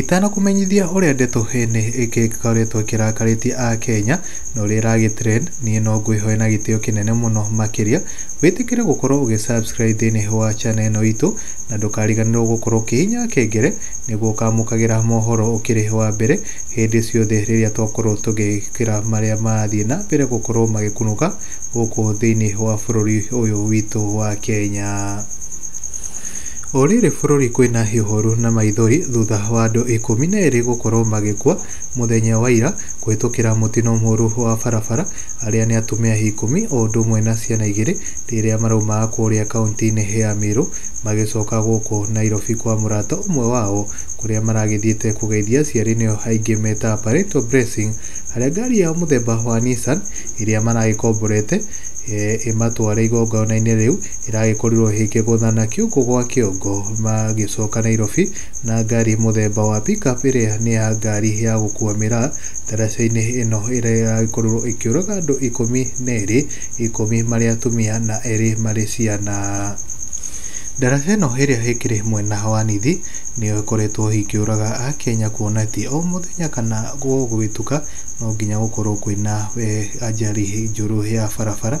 Itanakũmenyithia ũrĩa ndeto heni ĩkĩ ĩkoretwo ĩkĩrakarĩtie Akenya na ũrĩa ĩragĩ trend, niĩ no ngwĩhoe na gĩtĩo kĩnene mũno makĩria wĩtĩkĩre gũkorwo ũgĩ subscribe thĩinĩ wa channel ĩno itũ na ndũkariganĩrwo gũkorwo ũkĩhihinya kengele nĩguo ũkamũkagĩra mohoro ũkĩrĩ wa mbere hĩndĩ ciothe rĩrĩa twakorwo tũgĩkĩra marĩa marathiĩ na mbere gũkorwo magĩkunũka gũkũ thĩinĩ wa bũrũri ũyũ witũ wa Kenya. O rĩrĩ bũrũri kwĩna ihooru na maithori thutha wa andũ ikũmi na erĩ gũkorwo magĩkua mũthenya wa ira kũhĩtũkĩra mũtino mũru wa barabara arĩa nĩ atumia ikũmi o ũndũ ũmwe na ciana igĩrĩ rĩrĩa maraumaga kũrĩa kaunti-inĩ ya Meru magĩcoka gũkũ Nairobi kwa mũrata ũmwe wao kũrĩa maragĩthiĩte kũgeithia aciari nĩo aingĩ metaga parental blessing harĩa ngari yao mũthemba wa Nissan ĩrĩa maragĩkomborete ĩmatware igongona-inĩ rĩu. ĩragĩkorirwo ĩkĩgũthana kĩongo gwa kĩongo magĩcoka Nairobi na ngari mũthemba wa pick up ĩrĩa nĩ ya ngari ya gũkua mĩraa ndaraca-inĩ ĩno ĩrĩa ĩragĩkorirwo ĩkĩũraga andũ ikũmi na erĩ, ikũmi marĩ atumia na erĩ marĩ ciana. Ndaraca ĩno ĩrĩa ĩkĩrĩ mwena wa Nithi nĩyo ĩkoretwo ĩkĩũraga Akenya kuona atĩ o mũthenya kana gũgĩtuka no nginya gũkorwo kwĩna ajali njũru ya barabara.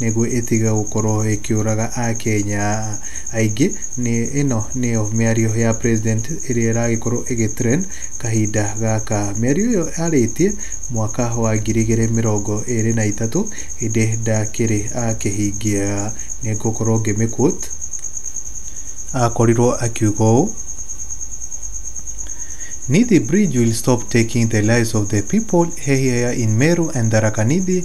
nĩguo ĩtige gũkorwo ĩkĩũraga Akenya aingĩ. Ĩno nĩyo mĩario ya president ĩrĩa ĩragĩkorwo ĩgĩ trend kahinda gaka. Mĩario ĩyo arĩtie mwaka wa ngiri igĩrĩ mĩrongo ĩrĩ na itatũ ĩndĩ ndakĩrĩ akĩhingia. Nĩ ngũkorwo ngĩmĩ quote, akorirwo akiuga ũũ, Nithi bridge will stop taking the lives of the people here in Meru and Tharaka Nithi.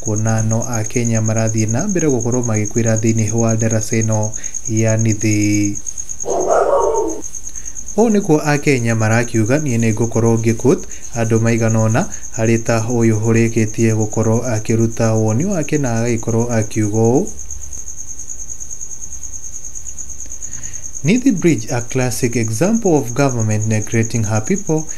Kuona no Akenya marathiĩ na mbere gũkorwo magĩkuĩra thĩinĩ wa ndaraca ĩno ya Nithi. Ũũ nĩkuo Akenya marakiuga niĩ nĩ ngũkorwo ngĩquote andũ maigana ũna arĩ ta ũyũ ũrĩkĩtie gũkorwo akĩruta woni wake na agagĩkorwo akiuga ũũ, Nithi Bridge a classic example of government neglecting her people.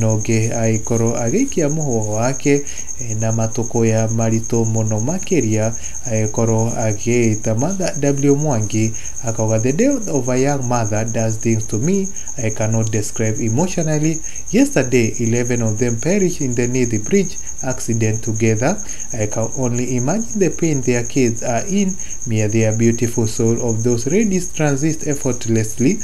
na ũngĩ agĩkorwo agĩikia mũhũa wake na matũkũya maritũ mũno makĩria agĩkorwo agĩta Mother W Mwangi akauga the day of a young mother does things to me I cannot describe emotionally yesterday 11 of them perished in the Nithi bridge accident together I can only imagine the pain their kids are in may their beautiful soul of those ladies transist effortlessly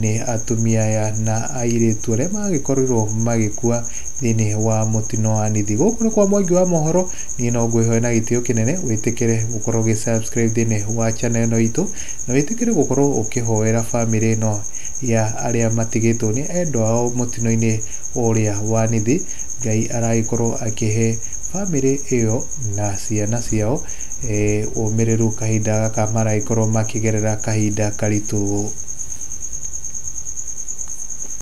nĩ atumia aya na airĩtu arĩa magĩkorirwo magĩkua thĩinĩ wa mũtino wa Nithi. Gũkũ nĩ kwa Mwangi wa mohoro, niĩ no ngwĩhoe na gĩtĩo kĩnene wĩtĩkĩre gũkorwo ũgĩ subscribe thĩinĩ wa channel ĩno itũ na wĩtĩkĩre gũkorwo ũkĩhoera famĩlĩ ĩno ya arĩa matigĩtwo nĩ endwa ao mũtino-inĩ ũrĩa wa Nithi. Ngai aragĩkorwo akĩhe famĩlĩ ĩyo na ciana ciao ũmĩrĩru kahinda gaka maragĩkorwo makĩgerera kahinda karitũ.